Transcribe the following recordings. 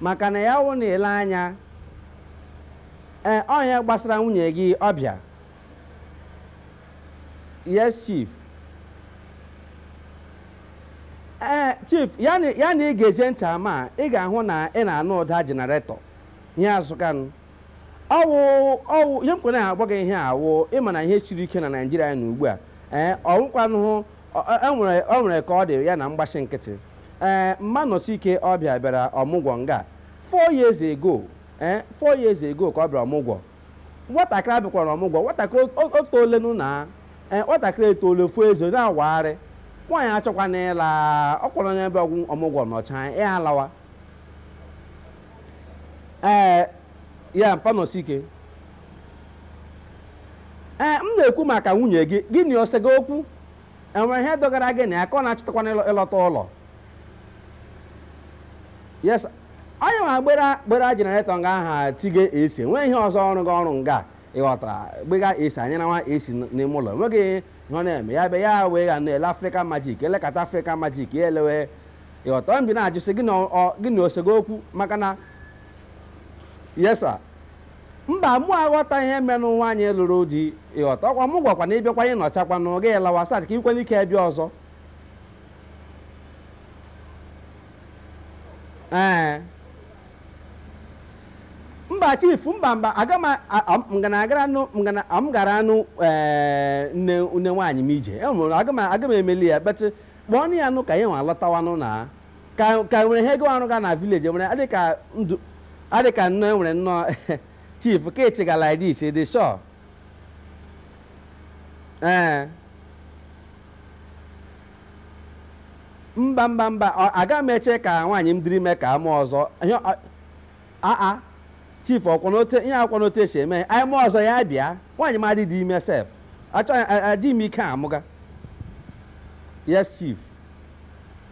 maka na ya wụ na ile anya ee ọ ihe gbasara nwunye gị ọbịa yes chief ee chief ya na ya na ị ga-ege ntị ama ị ga-ahụ na ị na-anụ ụda jenaretọ ihe azụkanụ ọwụ ọwụ ihe m kwere na-agwa gị ihe a wụ ịma na ihe siri ike na naijiria na ugbu a ee ọwụkwanụ O nwere ka ọ dị ya na mgbachi nkịtị ee mma Nọsike ọ bịa bịara ọmụgwọ nga four years ago ee four years ago ka ọ bịara ọmụgwọ nwatakịrị a bịakwara ọmụgwọ nwatakịrị o toolenu na ee nwatakịrị etoole fuo ezi na-awagharị nwaanyị achọkwana ịla ọkwa onye ebe ọgwụ ọmụgwọ nọchaa ya alawa ee ya mpa Nọsike ee m na-ekwu maka nwunye gị gị na o sega okwu enwere ihe dọgara gị na ya ka ọ na-achọtakwana ịlọ- ịlọta ụlọ yes onye nwa gbera gbera jenaretọ nga aha tige esi nwee ihe ọzọ ọ rụga ọrụ nga ịghọtara gbega esi anyị na nwa esi n'ime ụlọ enweghị ihe ọ na-eme ya be ya wee ga na-ele Africa Magic elekata Africa Magic ya elewe ịghọta mbi na-ajụsị gị na ọ- gị na o sega okwu maka na yes sir mba mụ aghọta ihe menụ nwaanyị lụrụ di ịghọta ọkwa ọmụgwọ kwa na ị bịakwa anyị nọchakwa na oge lawa so that ka ikwe n'ike bịa ọzọ ee mba chief mba mba aga m a- a- m ga na agaranụ m ga na m garanụ ee, nne nne nwaanyị m ije enwere aga m aga m emeli ya but kpọọ nụ ya nụ ka ya nwa lọtawanụ na ka ka nwere ihe ọ ga-arụga na village nwere adị ka ndụ adị ka nnọọ enwere nnọọ chief ka ị chịga like this ị dị sure ee mba mba mba ọ- aga m eche ka nwaanyị m dịrị ime ka a mụọ ọzọ ihe ọ- aa chief ọkwanụ otu ihe ọkwanụ otu e si eme anyị mụọ ọzọ ya bịa nwaanyị m adịdị ime sef achọghị a- adị m ike amụga yes chief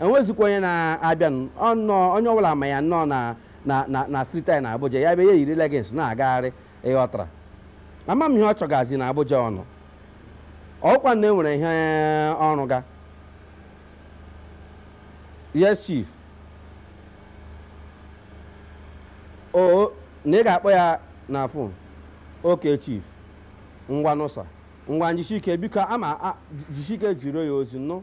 enwezikwa onye na-abịa ọnọọ onye ọbụla ma ya nnọọ na na na na street anyị na Abuja ya bịa ya yiri leggings na-agagharị ịghọtara ama m ihe ọ chọgazi na Abuja ọnụ ọkwa na enwere ihe ọ rụga yes chief o na ị ga-akpọ ya na phone okay chief ngwa nụ sir ngwa njisike biko ama a- jisike ziri ya ozi nụ